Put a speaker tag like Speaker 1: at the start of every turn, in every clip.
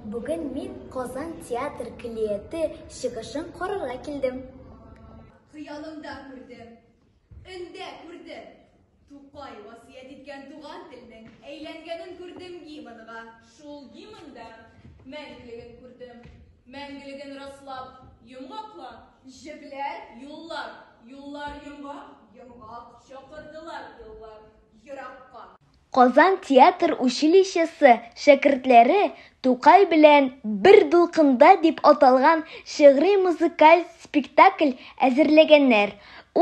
Speaker 1: Бүген мин Казан театр көллияте чыгышын карарга килдем.
Speaker 2: Хыялымда күрдем, өндә күрдем. Тукай васыять иткән туган телнең әйләнгәнен күрдем гимнга. Шул гимнда мәңгелеген күрдем. Мәңгелеген раслап, йомгаклап. Җепләр, юллар, юллар йомгак, йомгак. Чакырдылар еллар еракка. Казан
Speaker 1: театр училищесы шәкертләре Тукай белән бер дулкында дип аталган шигъри-музыкаль спектакль әзерләгәннәр.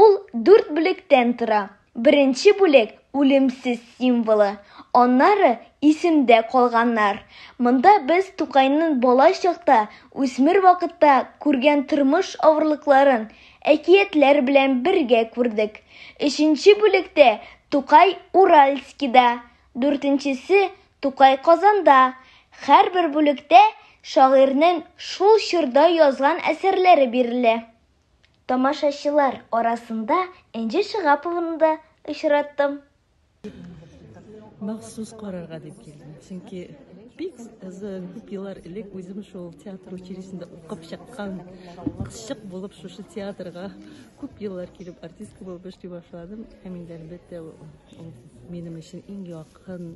Speaker 1: Ул дүрт бүлектән тора. Беренче бүлек, Үлемсез символы, аннары, Исемдә калганнар. Монда без Тукайның бала чакта, үсмер вакытта күргән тормыш авырлыкларын, әкиятләр белән бергә күрдек. Өченче бүлектә Тукай Уральскида, дүртенчесе Тукай Казанда. Һәрбер бүлектә шагыйрьнең шул чорда язган әсәрләре бирелә. Тамашачылар арасында Энҗе Шигапованы да очраттым.
Speaker 3: Махсус карарга дип килдем. Чөнки бик озын күп еллар элек үзем шул театр училищесында укып чыккан кызчык булып шушы театрга күп еллар килеп артистка булып эшли башладым. Һәм инде әлбәттә ул минем өчен иң якын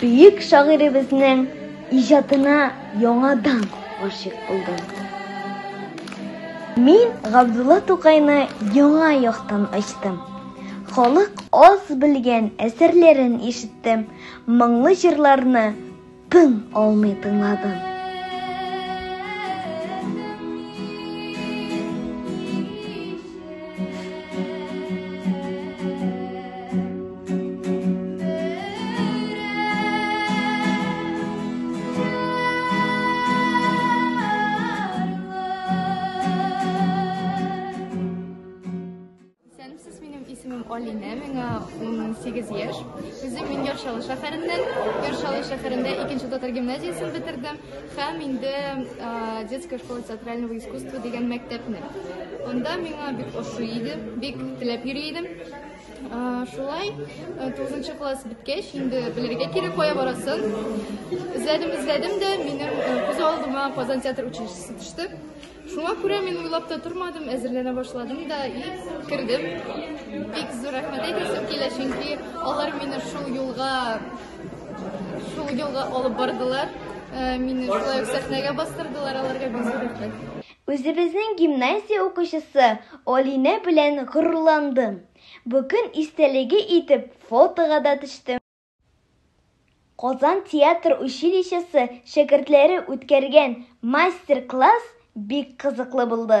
Speaker 1: Бөек шагыйребезнең иҗатына яңадан гашыйк булдым. Мин Габдулла Тукайны яңа яктан ачтым. Халык аз белгән әсәрләрен ишеттем, моңлы җырларны тын алмый тыңладым.
Speaker 4: Алинә, миңа 18 яшь. Үзем мин Яршалы шәһәреннән. Яршалы шәһәрендә икенче татар гимназиясен бетердем һәм инде детская школа театрального искусства дигән мәктәпне. Анда миңа бик ошый иде, бик теләп йөри идем. Шулай, 9 класс беткәч, инде белергә кирәк кая барасын. Эзләдем, эзләдем дә, минем күз алдыма Казан театр училищесы төште. Шуңа күрә мин уйлап та тормадым, әзерләнә башладым да и кердем. Бик зур рәхмәт әйтәсем килә, чөнки алар мине шул юлга шул юлга алып бардылар. Мине шулай ук сәхнәгә бастырдылар, аларга бик зур рәхмәт. Үзебезнең
Speaker 1: гимназия укучысы Алинә белән горурландым. Бу көн истәлеге итеп фотога да төштем. Казан театр училищесы шәкертләре үткәргән мастер-класс бик кызыклы булды.